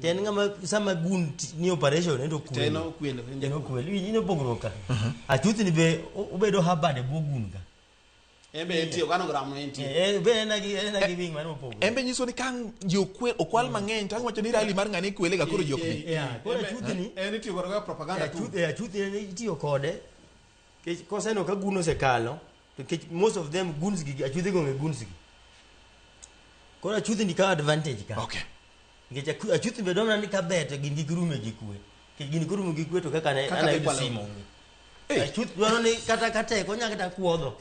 To en ng'ama sama gun t- ni operation ento To en okwelo, en En okwelo. In opogruok ka. Achuthni be o- obedo habad e bwo gun ka. En be en tiyo kano gram en tiyo. Eh, eh, be en agi en agi wing mano opogruok. en be nyiso ni kang ji okwel okwal mang'eny to ang' wacho ni rali mar ng'ane ikwele ga koro ji ok bi Eh, eh, koro achuthni En itiyo kod propaganda tu. achuth eh, achuthni en itiyo kode Kech koseneno ka gun osekalo, to kech most of them guns gi achudhe go nge guns gi. Koro achudhe ni ka advantage ka. Okay. Nikech aku- achuth be dwamna ni kaber to gin gi girume gi kwe. Nikech gin girume gi kwe to kaka ne Kaka anayudo gikwalo. simo. Hey. Achuth dwaro ni kata kateko nya kata kuodho.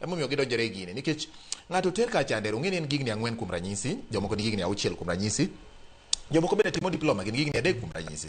Emomiyo gidonjore e gini nikech ng'ato ter ka chande ong'e ni en gigni ang'wen kuom ranyisi, jomoko ni gigni auchiel kuom ranyisi, jomoko bende timo diploma gin gigni adek kuom ranyisi.